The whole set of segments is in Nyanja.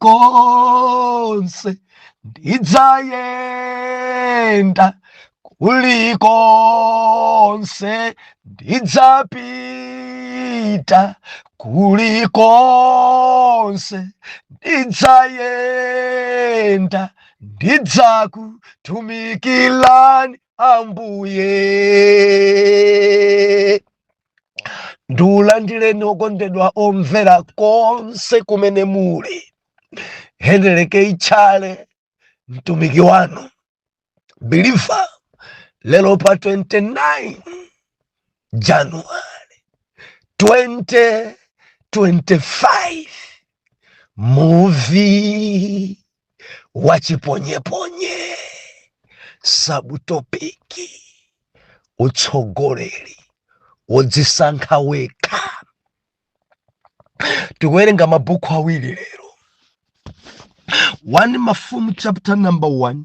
kulikonse ndidzayenda kulikonse ndidzapita kulikonse ndidzayenda ndidzakutumikirani ambuye ndikulandireni okondedwa omvera konse kumene muli hendeleke itchale mtumiki wanu believer lero pa 29 januwale 2025 muvi wachiponyeponye subtopic utsogoleri wodzisankha wekha tikuwerenga mabuku awiri lero 1 mafumu chapter number 1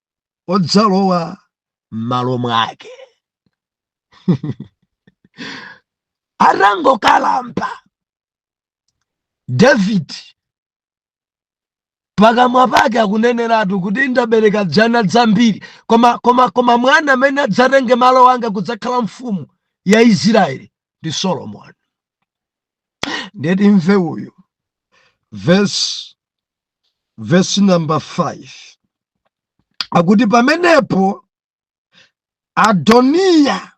odzalowa m'malo mwake atangokalamba david pakamwa pake akuneneratu kuti ndabereka dzana dzambiri koma koma koma mwana amene adzatenge malo anga kudzakhala mfumu ya israeli ndi solomoni nde timve uyu vesi vesi namba 5 akuti pamenepo adoniya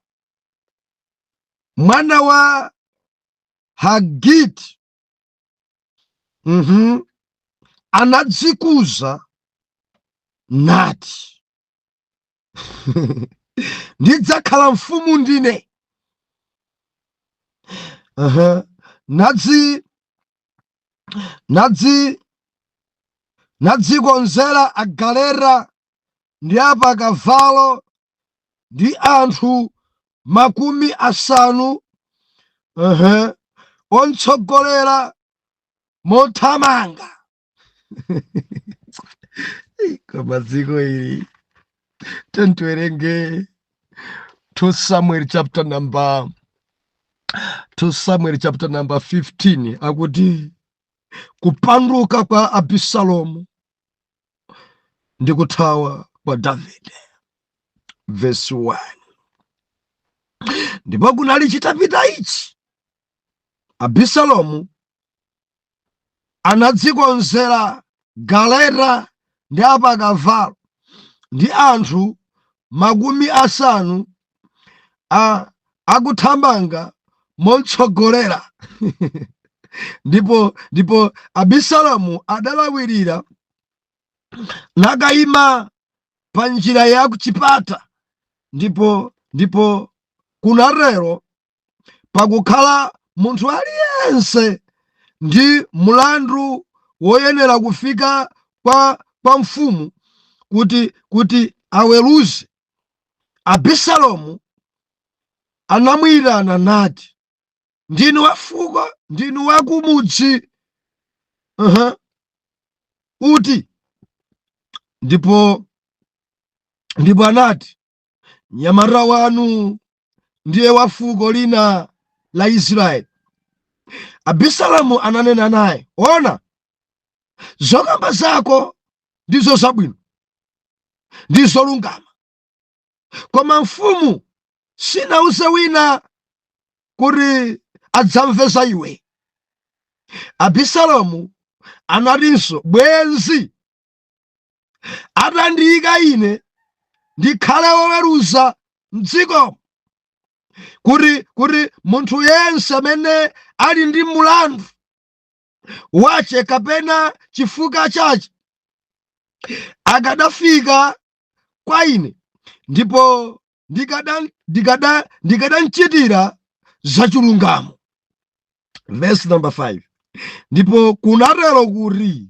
mwana wa hagiti mhm, anadzikuza nati ndidzakhala mfumu ndine Aha. nadzikonzera agaleta ndi apakavalo ndi anthu makumi asanu Aha. ontsogolera mothamanga koma dziko ili tiyeni tiwerenge 2 samuel chapter number 2 samuel chapter number 15 akuti kupanduka kwa abisalomu ndi kuthawa kwa davide verse 1 ndipo kunali chitapita ichi abisalomu anadzikonzera galeta ndi apakavalo ndi anthu makumi asanu a akuthamanga momtsogolera ndipo ndipo abisalomu adalawirira nakayima pa njira ya kuchipata ndipo ndipo kunatero pakukhala munthu aliyense ndi mlandu woyenera kufika kwa, kwa mfumu kuti kuti aweruze abisalomu anamuyitana nati ndinu wafuko ndinu wakumudzi uh-huh. uti ndipo ndipo anati mnyamata wanu ndiye wa fuko lina la Israeli. Abisalomu ananena naye, ona, zokamba zako ndizo zabwino ndi zolungama, koma mfumu sinauze wina kuti adzamve za iwe. Abisalomu anatinso, bwenzi atandiyika ine ndikhale woweruza mdziko kuti kuti munthu yense amene ali ndi mulandu wace kapena chifukwa chace akadafika kwa ine ndipo ndikada- ndikada- ndikadamchitira zachilungamo verse number 5 ndipo kunatero kuti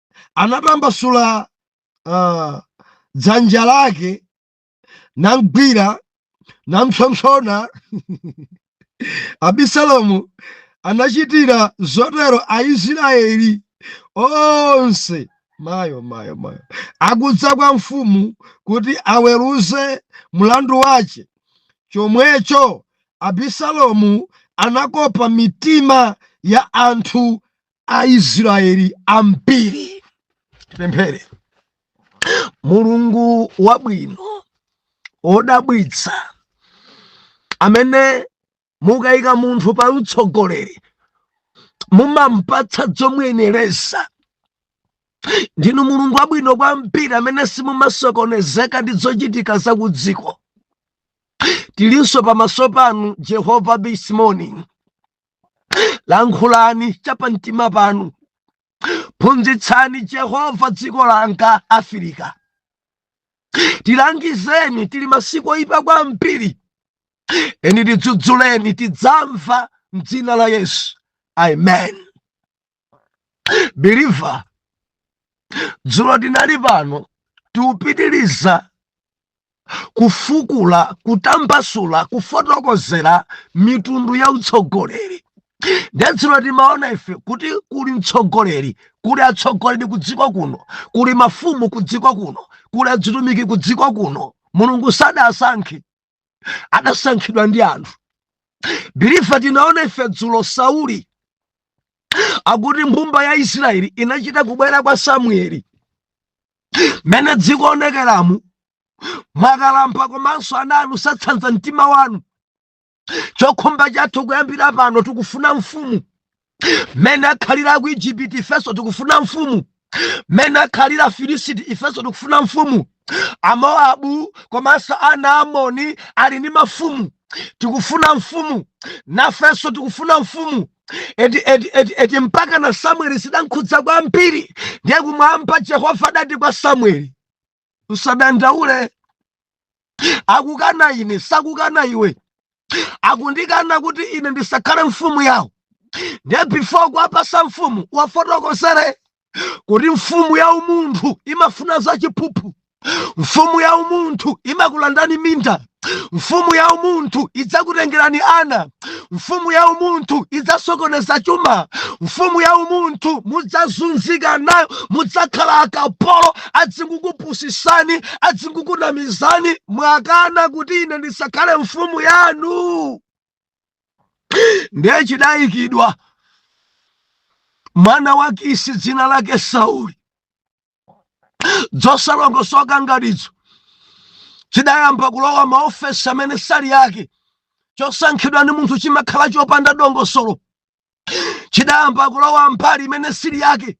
anatambasula uh, dzanja lake namgwira nampsompsona abisalomu anachitira zotero aisraeli onse mayo mayo mayo akudza kwa mfumu kuti aweruze mlandu wace chomwecho abisalomu anakopa mitima ya anthu Aisraeli ambiri. Tipemphere. Mulungu wabwino odabwitsa amene mukayika munthu pa utsogoleri mumampatsa zomuyenereza ndinu mulungu wabwino kwambiri amene simumasokonezeka ndi zochitika za kudziko tilinso pamaso panu jehova this morning lankhulani chapamtima panu phunzitsani jehova dziko langa afrika tilangizeni tili masiku oyipa kwambiri eni tidzudzuleni tidzamva mdzina la yesu amen believer dzulo tinali pano tikupitiliza kufukula kutambasula kufotokozera mitundu ya utsogoleri nde dzulo timaona ife kuti kuli mtsogoleri kuli atsogoleri kudziko kuno kuli mafumu kudziko kuno kuli adzitumiki kudziko kuno mulungu sadasankhe adasankhidwa ndi anthu believer tinaona ife dzulo sauli akuti mbumba ya israeli inachita kubwera kwa samueli mene zikuonekeramu mwakalampa komanso ana anu sakutsanza mtima wanu chokhumba chathu kuyambira pano tikufuna mfumu mene akhalira ku ijipiti ifenso tikufuna mfumu mene akhalira afilisiti ifenso tikufuna mfumu amoabu komanso ana a amoni ali ndi mafumu tikufuna mfumu nafenso tikufuna mfumu eti mpakana samueli zidankhudza kwambiri ndiye kumwamba jehova adati kwa samueli usadandaule akukana ine sakukana iwe akundikana kuti ine ndisakhale mfumu yawo ndiye before kuwapasa mfumu uwafotokozere kuti mfumu ya umunthu imafuna za chiphuphu mfumu ya umunthu imakulandani minda Mfumu ya umunthu idzakutengerani ana, mfumu ya umunthu idzasokoneza chuma, mfumu ya umunthu mudzazunzika nayo, mudzakhala akapolo, adzingukupusisani, adzingukunamizani, mwakana kuti ine ndisakhale mfumu yanu. Ndiye chidayikidwa mwana wa Kisi dzina lake Sauli zosalongosoka ngatizo chidayamba kulowa maofesi amene sali yake chosankhidwa ndi munthu chimakhala chopanda dongosolo chidayamba kulowa mbali imene sili yake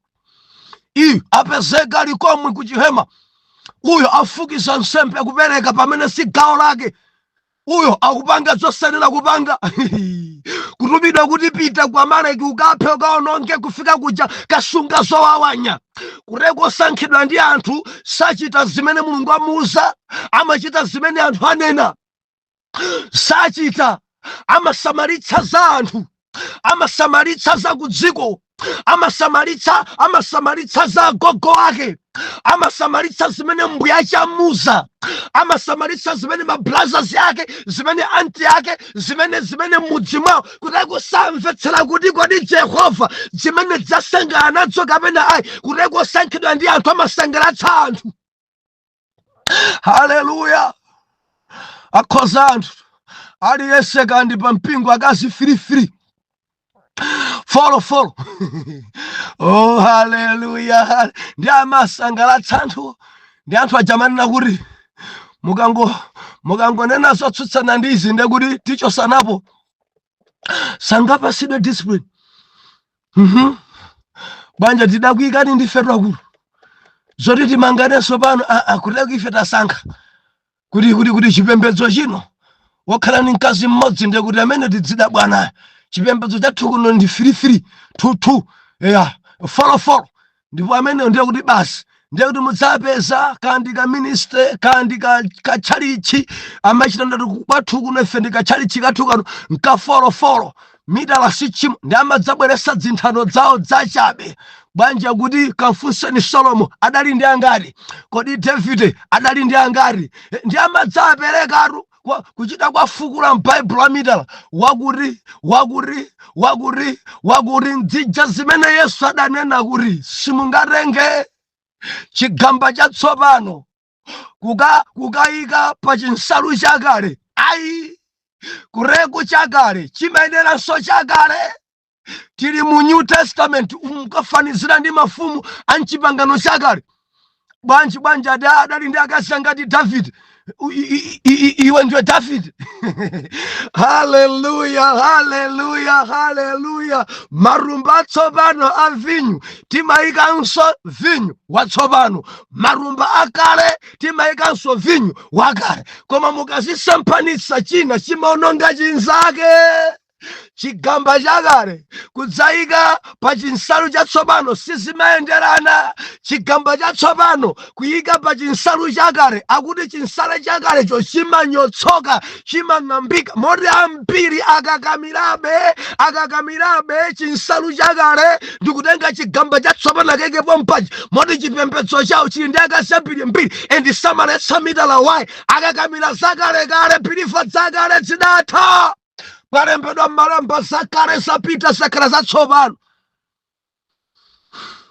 uyu apezeka ali komwe kuchihema uyo afukiza nsembe kupereka pamene si gawo lake uyo akupanga zosanena kupanga kutumidwa kuti pita kwa amaleki ukaphe ukaononge kufika kuja kasunga zowawanya kuteroko osankhidwa ndi anthu sachita zimene mulungu amuuza amachita zimene anthu anena sachita amasamalitsa za anthu amasamalitsa za kudziko amasamalitsa amasamalitsa za gogo ake amasamalitsa zimene mbuyache amuuza amasamalitsa zimene mabrazas ake zimene anti ake zimene zimene mudzi mwawo kuti akusamvetsera kuti kodi jehova zimenezi asangalala nazo kapena ayi kuti osankhidwa ndi anthu amasangalatsa anthu haleluya akhoza anthu aliyense kandi pa mpingo akazi firifiri folo folo oh haleluya ndi amasangalatsa anthu ndi anthu aja amanena kuti mukango mukangonena zotsutsana ndi izi ndekuti tichotsanapo sangapatsidwe discipline mhm banja tidakuikani ndifetu akulu zoti timanganenso pano ah, ah, kuti lako ife tasankha kuti kuti kuti chipembedzo chino wokhala ndi mkazi mmodzi ndiye kuti amene tidzida bwanayo chipembedzo chathu kuno ndi firifiri tutu ya folofolo ndipo ameneyo ndiye kuti basi ndiye kuti mudzapeza kandi ka ministry kandi ka, ka chalichi amachita ndati kwathu kuno ife ndi ka chalichi kathu kano nkafolofolo mitala sichimo ndi amadzabweretsa dzinthano dzawo dzachabe bwanji kuti kafunseni solomo adali ndi angati kodi davide adali ndi angati Eh, ndi amadzaperekatu kwa kuchita kuwafukula m'baibulo a mitala wakuti wakuti wakuti wakuti ndzija zimene yesu adanena kuti simungatenge chigamba chatsopano kuka kukayika pa chinsalu chakale ayi kureku chakale chimayeneranso chakale tili mu new testament mukafanizira ndi mafumu a mchipangano chakale bwanji bwanji ada adali ndi akazi angati david U- i- i- i- i- iwe ndiwe david haleluya haleluya haleluya matumba atsopano a vinyu timayikanso vinyu watsopano matumba akale timayikanso vinyu wakale koma mukazisemphanitsa china chimaononga chinzake chigamba chakale kudzayika pa chinsalu chatsopano sizimayenderana chigamba chatsopano kuyika pa chinsalu chakale akuti chinsalu chakalecho chimanyotsoka chimang'ambika moti ambiri akakamirabe akakamirabe chinsalu chakale ndikutenga chigamba chatsopano akaike pompaja moti chipembedzo chawo chili ndi akazi ambiri mbiri and samaletsa mitala ayi akakamira zakalekale pilifa zakale zidatha palembedwa m'malemba zakale zapita zakhala zatsopano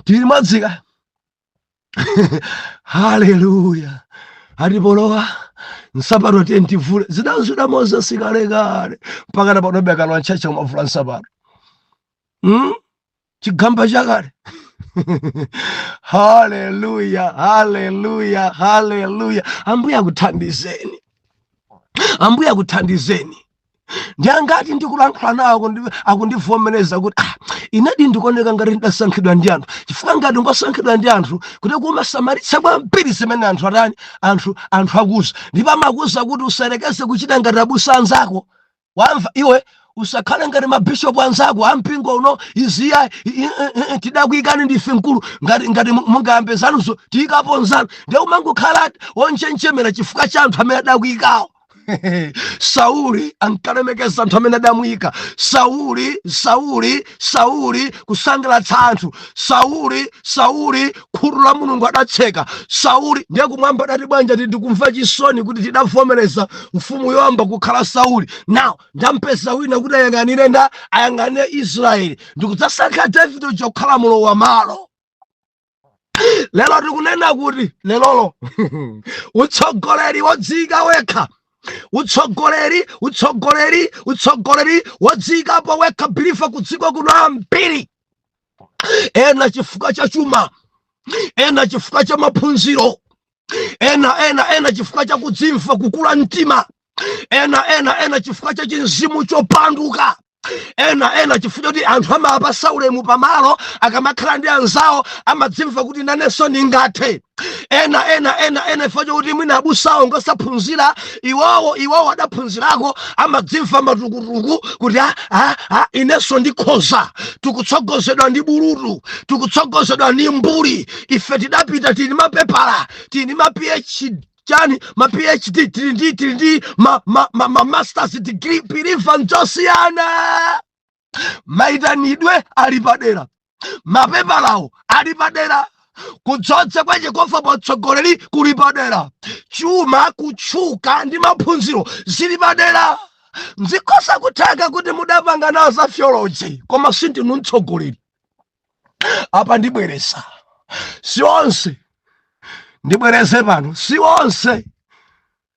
tili mwadzika haleluya ati polowa nsapato tiyeni tivule zidazida moses kalekale mpaka na panobe akalowa m'church akumavula nsapato hmm? chigamba chakale haleluya haleluya haleluya ambuye akuthandizeni ambuye akuthandizeni ndiangati ndikulankhula nawo akundivomereza kuti ah, inadi ndikuoneka ngati ndidasankhidwa ndi anthu chifukwa ngati ngosankhidwa ndi anthu kuti kumasamalitsa kwambiri zimene anthu atani anthu anthu akuuza ndipo amakuuza kuti usayerekeze kuchita ngati abusa anzako wamva iwe usakhale ngati mabishopu anzako ampingo uno iziya tidakuyikani ndife mkulu ngati ngati mungayambe zanuzo tiyikapo nzanu ndiye umangokhala wonjenjemera chifukwa cha anthu amene adakuyikawo sauli ankalemekeza anthu amene adamuyika sauli sauli sauli kusangalatsa anthu sauli sauli khutu la mulungu adatseka sauli ndiye kumwamba adati bwanja ti ndikumva chisoni kuti tidavomereza mfumu yoyamba kukhala sauli now ndampeza wina kuti ayang'anire nda ayang'anire israeli ndikudzasankha davide kukhala mlowam'malo lero tikunena kuti lelolo utsogoleri wodziyika wekha utsogoleri utsogoleri utsogoleri wodziyikapo wekha believer kudziko kuno ambiri ena chifukwa cha chuma ena chifukwa cha maphunziro ena ena ena chifukwa cha kudzimva kukula mtima ena ena ena chifukwa cha chimzimu chopanduka ena ena chifukwa choti anthu amawapasa ulemu pamalo akamakhala ndi anzawo amadzimva kuti nanenso ndingathe ena ena ena ena chifukwa chokuti mwina abusawo ngosaphunzira iwowo iwowo adaphunzirako amadzimva matukutuku kuti "Ah, ah, ah, inenso ndikhoza tikutsogozedwa ndi bulutu tikutsogozedwa ndi mbuli ife tidapita tili ndi mapepala tili ndi ma phd chani ma phd tili ndi tili ndi ma, ma, ma, ma masters degree believer nzosiyana maitanidwe ali padera mapepalawo ali padera kudzodza kwa yehova pa utsogoleri kuli padera chuma kutchuka ndi maphunziro zili padera zikhoza kutheka kuti mudapanga nawo za theology koma sindinu mtsogoleri apa ndibwereza si onse ndibwereze pano si onse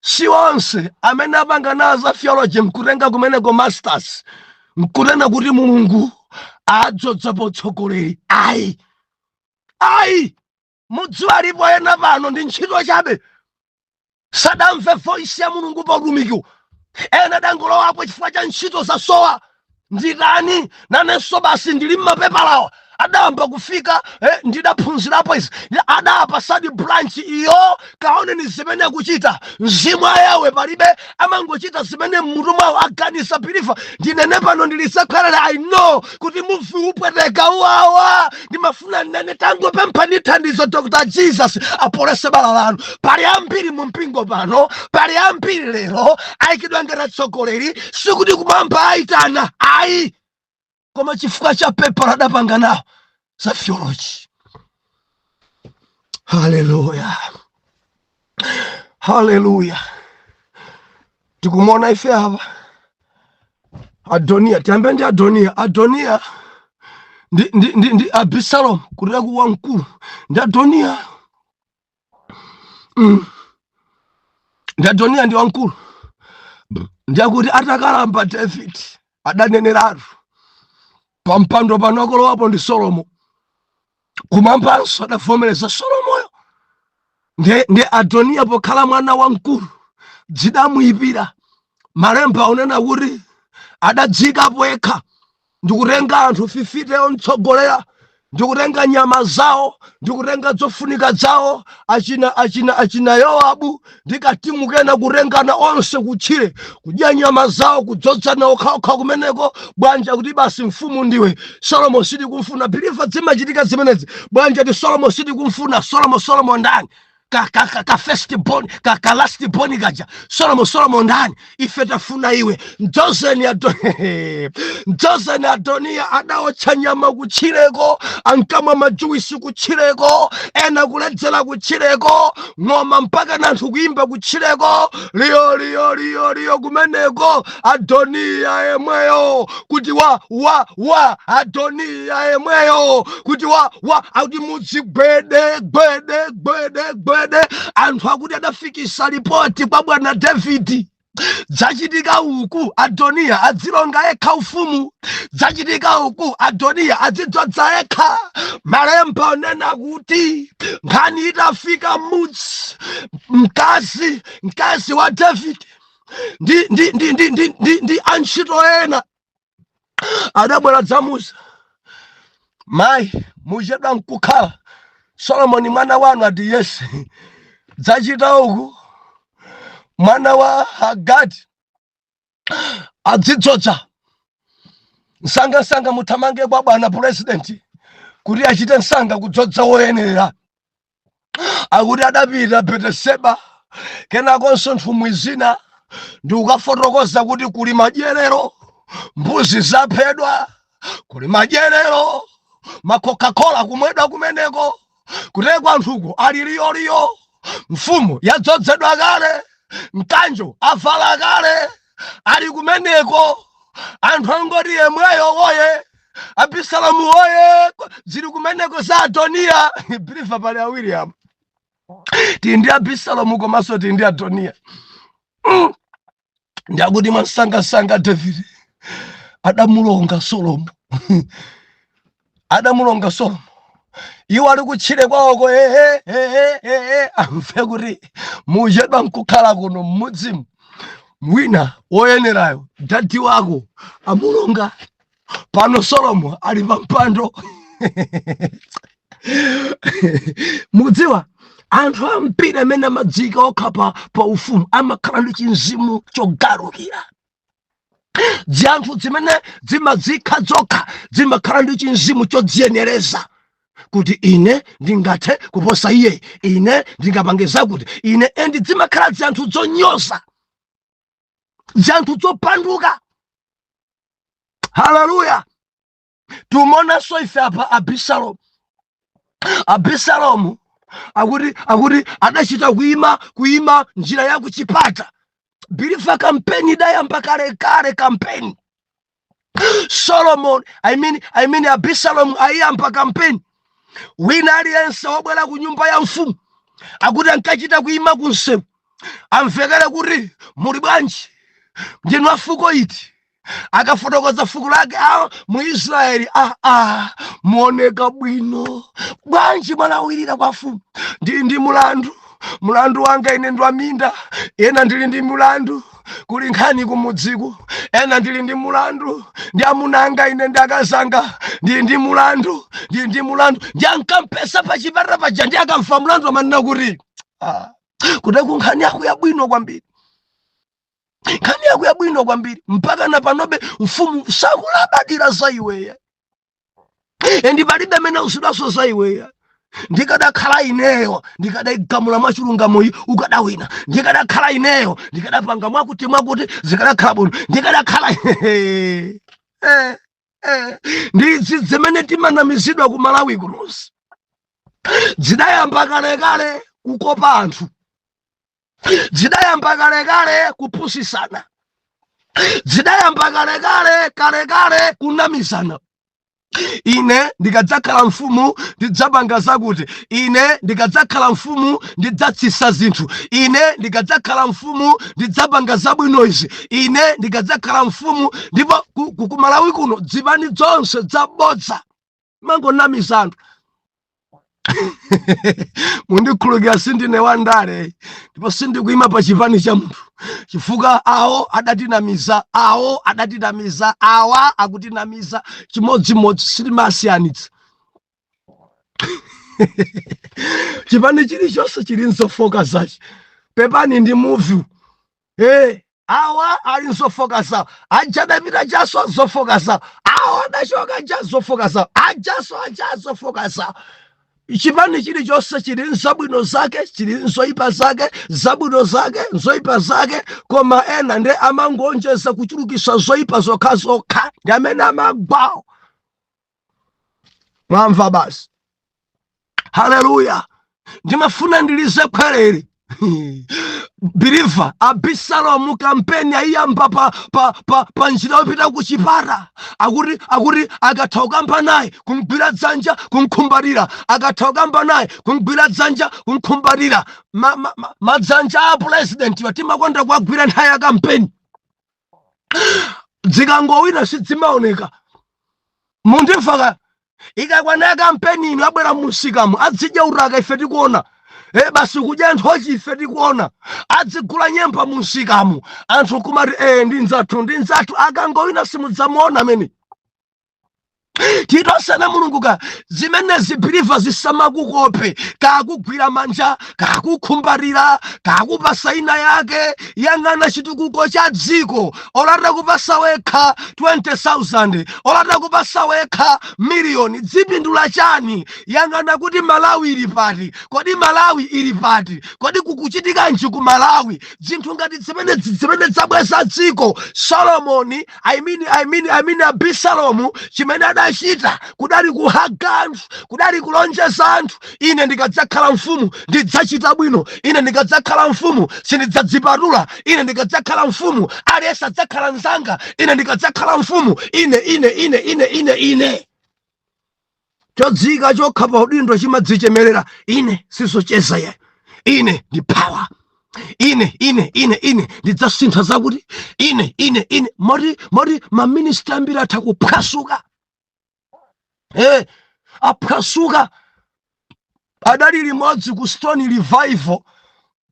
si onse amene apanga nawo za theology nkutenga kumeneko masters nkunena kuti mulungu wadzodza pa utsogoleri ayi ayi mudziwa alipo ena pano ndi ntchito chabe sadamve voice ya mulungu pa utumikiwo ena adangolowapo chifukwa cha ntchito zasowa nditani nanenso basi ndili mmapepalawa odayamba kufika eh, ndidaphunzirapo izi Ndi- adapatsadi branch iyo kaoneni zimene akuchita mzimu ayawe palibe amangochita zimene mmutu mwawo aganiza biliva ndinene pano ndilisekhalale i know kuti muvi upweteka uwawa ndimafuna nnene tangopempha ndi thandizo dr jesus apolese bala lanu pali ambiri mu mpingo pano pali ambiri lero ayikidwa ngati atsogoleri sikuti kumwamba ayitana ayi koma chifukwa cha pepala adapanga nawo za theology haleluya haleluya tikumona ife apa adoniya tiyambe ndi adoniya adoniya ndi, ndi, ndi, ndi abisalomu kulira ku wamkulu ndi adoniya mm. ndi adoniya ndi wamkulu ndiyakuti atakalamba david adaneneratu pa mpando pano akolowapo ndi solomo kumwambanso adavomereza solomoyo ndi, ndiye adoniya pokhala mwana wamkulu dzidamuyipira malemba unena kuti adadzikapo yekha ndikutenga anthu fifite omtsogolera ndikutenga nyama zawo ndikutenga zofunika zawo achina achina achina yowabu ndikatimu kena kutengana onse kutchire kudya nyama zawo kudzodzana okhaokha kumeneko bwanji kuti basi mfumu ndiwe solomo sitikumfuna biliva zimachitika zimenezi bwanji kuti solomo sitikumfuna solomo solomo ndani ka, ka, ka, ka first born ka, ka last born kaja solomo solomo ndani ife tafuna iwe mdzozeni Ado- mdzozeni adoniya adaotcha nyama kutchireko ankamwa majuwisi kutchireko ena kuledzera kutchireko ng'oma mpaka nanthu kuimba kutchireko liyo liyo liyo liyo kumeneko adoniya yemweyo kuti wa wa wa adoniya yemweyo kuti wa wa akuti mudzi gwede gwede gwede gwede anthu akuti adafikisa lipoti kwa bwana davidi dzachitika uku adoniya adzilonga ekha ufumu dzachitika uku adoniya adzidzodza ekha malemba unena kuti nkhani itafika mudzi mkazi mkazi wa davidi ndi ndi ndi ndi ndi ndi ndi antchito ena adabwera dzamuza mayi muchedwa nkukhala solomoni mwana wanu ati yesi dzachitika uku mwana wa hagati adzidzodza msangamsanga muthamange kwa bwana purezidenti kuti achite msanga kudzodza woyenera akuti adapita beteseba kenakonso nthumwi zina ndikukafotokoza kuti kuli madyerero mbuzi zaphedwa kuli madyerero makokakola kumwedwa kumeneko kutekwa anthuko ali liyoliyo mfumu yadzozedwa kale mkanjo avala kale ali kumeneko anthu angoti yemweyo woye abisalomu woye zili kumeneko za adoniya bilifa pali awiri apo tili ndi abisalomu komanso tili ndi adoniya Mm. ndi akuti mwansangasanga davide adamulonga solomo adamulonga solomo iwo ali kutchire kwawoko ehe ehe ehe amve kuti muchedwa nkukhala kuno mmudzimu wina woyenerayo dadi wako amulonga pano solomo ali pa mpando mudziwa anthu ambiri amene amadziyika okha pa, pa ufumu amakhala ndi chimzimu chogalukira dziyanthu dzimene dzimadziika dzokha dzimakhala ndi chimzimu chodziyenereza kuti ine ndingathe kuposa iye ine ndingapange zakuti ine endi dzimakhala dziyanthu dzonyoza dziyanthu dzopanduka haleluya tikumuonanso ife apa abisalomu abisalomu akuti akuti adachita kuima kuima njira ya kuchipata bilifa kampeni idayamba kale kale kampeni solomon I mean, I mean abisalomu ayiyamba kampeni wina aliyense wobwera ku nyumba ya mfumu akuti ankachita kuyima ku msewu amvekere kuti muli bwanji ndinu afuko iti akafotokoza fuko lake mu israeli aa ah, ah, muoneka bwino bwanji mwalawirira kwa mfumu ndili ndi mulandu mulandu wanga ine ndwaminda ena ndili ndi mulandu kuli nkhani kumudziku ena ndili ndi mulandu ndi amuna anga ine ndi akazi anga ndili ndi mulandu ndili ndi mulandu ndiye ankampeza pa chipata paja ndiye akamva mulandu amanena kuti ah, kuteku nkhani yako yabwino kwambiri nkhani yako yabwino kwambiri mpaka na panobe mfumu sakulabadira za iweya endi palibe amene akusudwanso za iweya ndikadakhala ineyo ndikadaigamula mwachilungamoyi ukadawina ndikadakhala ineyo ndikadapanga mwakuti mwakuti zikadakhala bwino ndikadakhala eh, eh. ndi izi zimene timanamizidwa ku malawi kunozi zidayamba kalekale kukopa anthu zidayamba kalekale kupusisana zidayamba kalekale kalekale kunamizana ine ndikadzakhala mfumu ndidzapanga zakuti ine ndikadzakhala mfumu ndidzatsisa zinthu ine ndikadzakhala mfumu ndidzapanga zabwino izi ine ndikadzakhala mfumu ndipo ku- ku- kumalawi kuno zipani zonse zabodza zimangonamiza anthu mundikhululukire sindine wandale ndipo sindikuima pa chipani cha munthu chifukwa awo adatinamiza awo adatinamiza awa akutinamiza chimodzimodzi sitimasiyanitsa chipani chilichonse chili nzofoka zache pepani ndi muvi Eh, awa ali nzofoka zawo aja adapita ajaso zofoka zawo awa adachoka aja zofoka zawo ajaso aja zofoka zawo chipani chilichonse chili nzabwino zake chili nzoyipa zake zabwino zake nzoyipa zake koma ena nde amangoonjeza kuchulukisa zoyipa zokhazokha ndi amene amagwawo mwamva basi haleluya ndimafuna ndilize likhweru biliva abisalomu kampeni ayiyamba pa, pa, pa, pa njira yopita ku chipata akuti akuti akatha kukamba naye kumgwira dzanja kumkhumbatira akatha kukamba naye kumgwira dzanja kumkhumbatira madzanja ma, ma, a pulezidentiwa timakonda kuwagwira nthawi ya kampeni dzikangowina sidzimaoneka munthu ifaka ikakwana ya kampeni ino abwera munsikamu adzidya uraka ife tikuona e basi kudya nthochi ife tikuona adzigula nyemba munsikamu anthu kumati e ndi nzathu ndi nzathu akangowina simudzamuona amene titosana mulungu ka zimenezi biliva zisamakukope kakugwira manja kakukhumbatira kakupasa ina yake yang'ana chitukuko cha dziko olata kupasa wekha 20000 olata kupasa wekha miliyoni dzipindula chani yang'ana kuti malawi ili pati kodi malawi ili pati kodi kukuchitikanji ku malawi zinthu ngati zimenezi nzimene zabweza dziko solomoni I mean, I mean, I mean abisalomu chimene adachita kudali kuhaga anthu kudali kulonjeza anthu ine ndikadzakhala mfumu ndidzachita bwino ine ndikadzakhala mfumu sindidzadzipatula ine ndikadzakhala mfumu aliyense adzakhala mzanga ine ndikadzakhala mfumu ine ine ine ine ine ine chodziika chokha pa udindo chimadzichemerera ine sizocheza ya ine ndi power ine ine ine ine ndidzasintha zakuti ine ine ine moti moti maminista ambiri atha kuphwasuka eh aphwasuka adali limodzi ku Stone Revival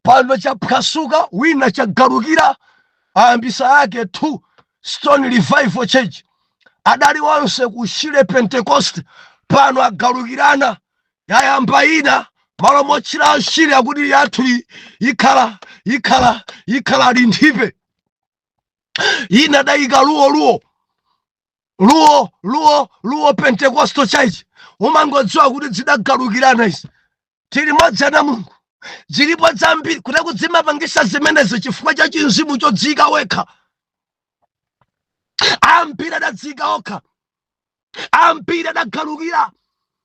pano chaphwasuka wina chagalukira ayambisa yake 2 Stone Revival Church adali onse ku Shire Pentecost pano agalukirana yayamba ina malo motchula Shire akuti yathu ikhala linthipe ina dayika luwo luwo luwo luwo luwo pentecostal church umangodziwa kuti dzidagalukirana izi tili limodzi ana a mulungu zilipo zambiri kuteku dzimapangisa zimenezo chifukwa cha chinzimu chodziyika wekha ambiri adadziyika okha ambiri adagalukira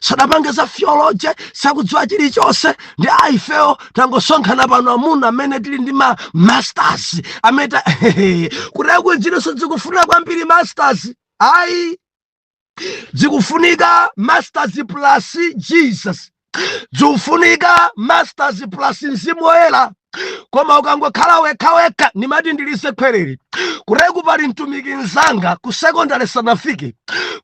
sadapange za theology sakudziwa chilichonse ndi aifewo tangosonkhana pano amuna amene tili ndi ma masters amene ta- kuteko ziliso zikufunika kwambiri masters ayi zikufunika masters plus jesus zikufunika masters plus mzimu woyera koma ukangokhala wekhawekha ndimati ndilize khwerere kuteku pali mtumiki nzanga ku sekondari sanafike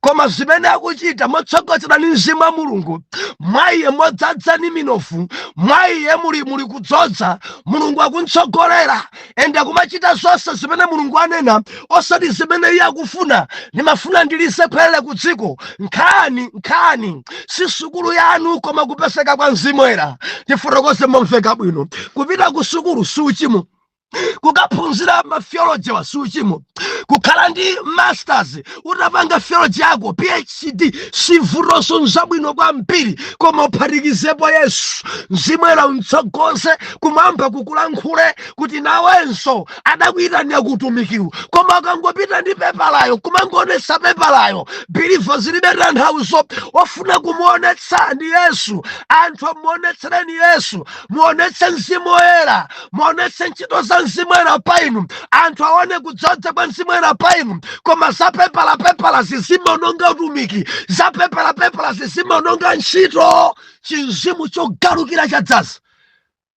koma zimene akuchita motsogozedwa ndi mzimu wa mulungu mwa iye modzadza ni minofu mwa iye muli muli kudzodza mulungu akuntsogolera ende akumachita zonse zimene mulungu anena osati zimene iye akufuna ndimafuna ndilize khwerere ku dziko nkhani nkhani si sukulu yanu koma kupezeka kwa mzimu woyera tifotokoze momveka bwino kupita ku sukulu si uchimo kukaphunzira matheologywa si uchimo kukhala ndi masters utapanga theology yako phd si vutonso nzabwino kwambiri koma uphatikizepo yesu mzimu woyera umtsogoze kumwamba kukulankhule kuti nawenso adakuyitanira ku utumikiwu koma ukangopita ndi pepalayo kumangoonetsa pepalayo bilivo zilibe tanthauzo ofuna kumuonetsa ndi yesu anthuwa muonetsereni yesu muonetse mzimu woyera muonetse ntchito za mzimu woyera pa inu anthu aone kudzodza kwa mzimu woyera pa inu koma za pepala pepalazi zimaononga utumiki za pepala pepalazi zimaononga ntchito chimzimu chogalukira chadzaza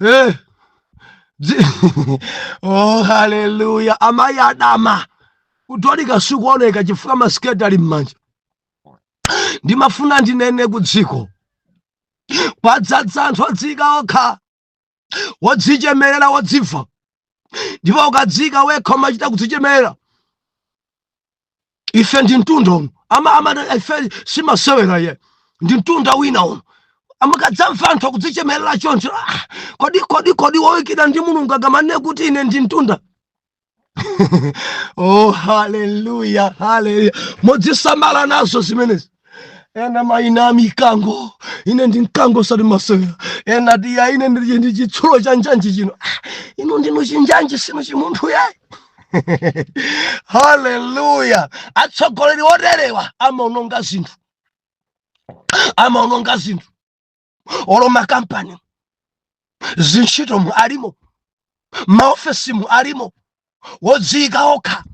Eh. oh haleluya amayi adama kutolika sikuoneka chifukwa masiketi ali m'manja ndimafuna ndinene ku dziko kwadzadza anthu odziyika okha wodzichemerera wodziva ndipo ukadziyika wekha umachita kudzichemerera ife ndi mtunda uno ama ama ife si masewera ayi ndi mtunda wina uno mukadzamva anthu akudzichemerera choncho ah, kodi kodi kodi woikidwa ndi mulungu akamanene kuti ine ndi mtunda oh haleluya haleluya mudzisamala nazo zimenezi ena maina a mikango ine ndi mkango osati masewera ena tiya ine ndi chitsulo cha njanji chino inu ndinu chinjanji sinu chimunthu yayi haleluya atsogoleri oterewa amaononga zinthu amaononga zinthu olo makampani zintchito mu alimo maofesi mu alimo wodziyika okha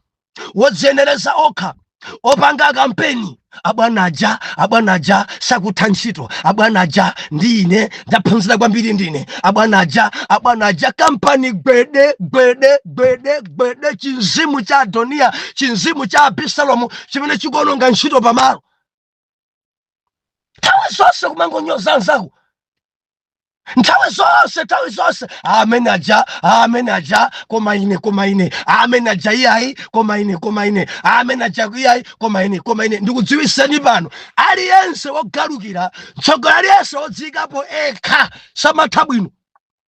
wodziyenereza okha opanga kampeni abwana aja abwana aja sakutha ntchito abwana aja ndi ine ndaphunzira kwambiri ndine abwana aja abwana aja kampani gwede gwede gwede gwede chimzimu cha adoniya chimzimu cha abisalomu chimene chikuononga ntchito pamalo nthawi zonse kumangonyoza anzako nthawi zonse nthawi zonse amene aja amene aja koma ine koma ine amene aja iyayi koma ine koma ine amene aja iyayi koma ine koma ine ndikudziwiseni pano aliyense wogalukira mtsogoleri aliyense wodziyikapo ekha samatha bwino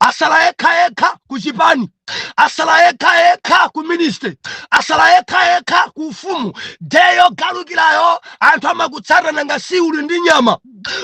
atsala yekha yekha ku chipani atsala yekha yekha ku ministry atsala yekha yekha ku ufumu day yogalukirayo anthu amakutsata nanga si uli ndi nyama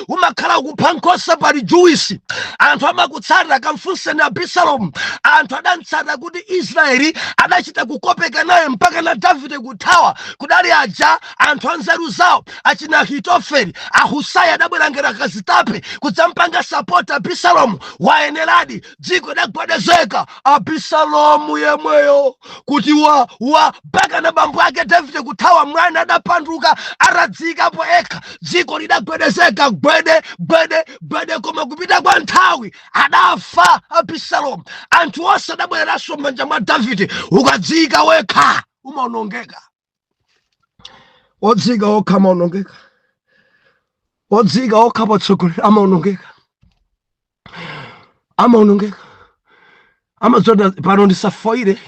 umakhala kupha nkhosa pali juwisi anthu amakutsata kamfunseni abisalomu anthu adamtsata kuti israeli adachita kukopeka naye mpaka na davide kuthawa kudali aja anthu anzeru zawo achina ahitofeli ahusai adabwera ngera kazitape kudzampanga sapoti abisalomu wayeneradi dziko lidagwedezeka abisalomu yemweyo kuti wa wa mpaka na bambo ake davide kuthawa mwana adapanduka atadziyikapo ekha dziko lidagwedezeka gwede gwede gwede koma kupita kwa nthawi adafa abisalomu anthu onse adabwereranso m'manja mwa davide ukadziyika wekha umaonongeka odziyika okha amaonongeka odziyika okha patsogolero amaonongeka amaonongeka amazonde pano ndisafoyire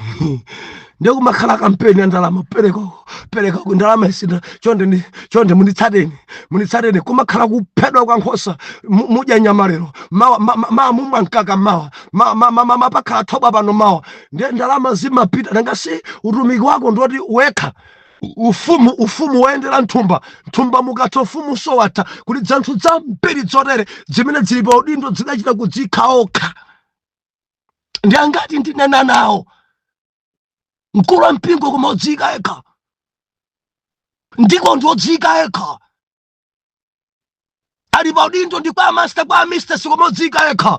ndekumakhala kampeni yandalama perekako perekako ndalama isina chonde chonde munditsateni munditsateni kumakhala kuphedwa kwa nkhosa mudya nyama lero mawa mawa mumwa mkaka mawa mawa mawa pakhala thobwa pano mawa ndiye ndalama zimapita nanga si utumiki wako ndiwoyika wekha ufumu ufumu woyendera mthumba mthumba mukatha ufumu so watha kuti dzanthu dzambiri dzotere dzimene dzili pa udindo zidachita kudziyika okha ndi angati ndinena nawo mkulu wa mpingo koma odziyika yekha ndi dikoni odziyika yekha ali pa udindo ndi kwa amasta kwa amistasi koma odziyika yekha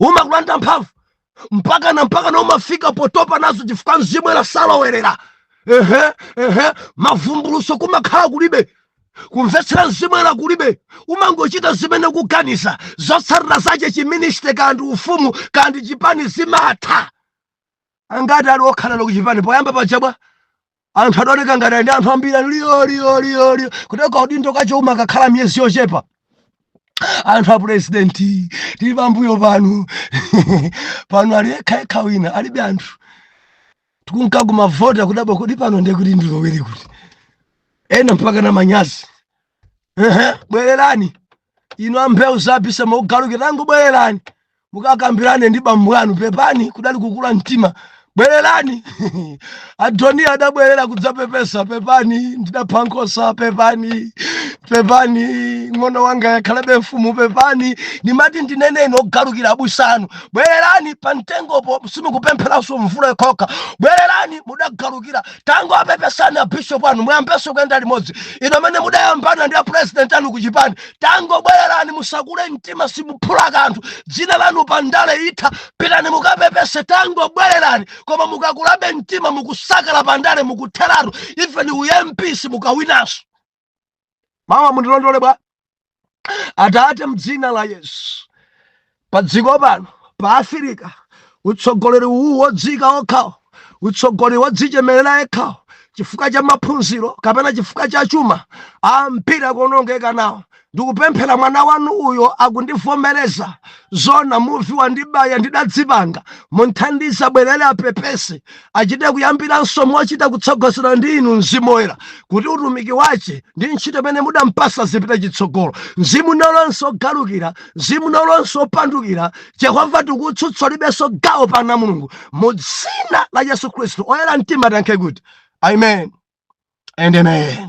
umakulanda mphamvu mpaka na mpaka na umafika potopa nazo chifukwa mzimu oyera salowerera ehe ehe mavumbuluso kumakhala kulibe kumvetsera mzimu oyera kulibe umangochita zimene ukuganiza zotsatira zache chiministry kandi ufumu kandi chipani zimatha angati ali wagalu kuchipani poyamba paja bwa anthu adaoneka ngati ali ndi anthu ambiri liyo liyo liyo liyo kutenga kaudindo kaja uma kakhala miyezi yochepa anthu a purezidenti tili pambuyo panu pano ali yekha yekha wina alibe anthu tikunka kumavoti kudabwa kodi pano ndiye ndilowere kuti ena mpaka na manyazi Ehe, bwererani inu abusa mukugalukira tangobwererani mukakambirane ndi bambo anu pepani kudali kukula mtima bwererani adoniya adabwerera kudzapepesa pepani ndidapha nkhosa pepani pepani mng'ono wanga akhalebe mfumu pepani ndimati ndinene inu ogalukira abusa anu bwererani pa mtengopo simukupempheranso mvula yokhokha bwererani mudagalukira tangowapepesani abishop anu muyambenso kuyenda limodzi inu amene mudayambana ndi apresident anu kuchipani tangobwererani musakule mtima simuphula kanthu dzina lanu pa ndale itha pitani mukapepese tangobwererani koma mukakulabe mtima mukusukuluka pa ndale mukutheratu even u MP simukawinanso mawa mundirondole bwa atate mdzina la yesu pa dziko pano pa afirika utsogoleri uwu wodziika okhawo utsogoleri wodzichemerera yekhawo chifukwa cha maphunziro kapena chifukwa cha chuma ambiri akuonongeka nawo ndikupemphera mwana wanu uyo akundivomereza zona muvi wandibaya ndidadzipanga mumthandize abwerere apepese achite kuyambiranso mochita kutsogozedwa ndi inu mzimu woyera kuti utumiki wache ndi ntchito imene mudampasa zipite chitsogolo mzimu wina ulionse ogalukira mzimu wina ulionse opandukira jehova tikutsutsa ulibenso gawo pa ana mulungu mu dzina la yesu khristu oyera mtima tiyankhe kuti amen and amen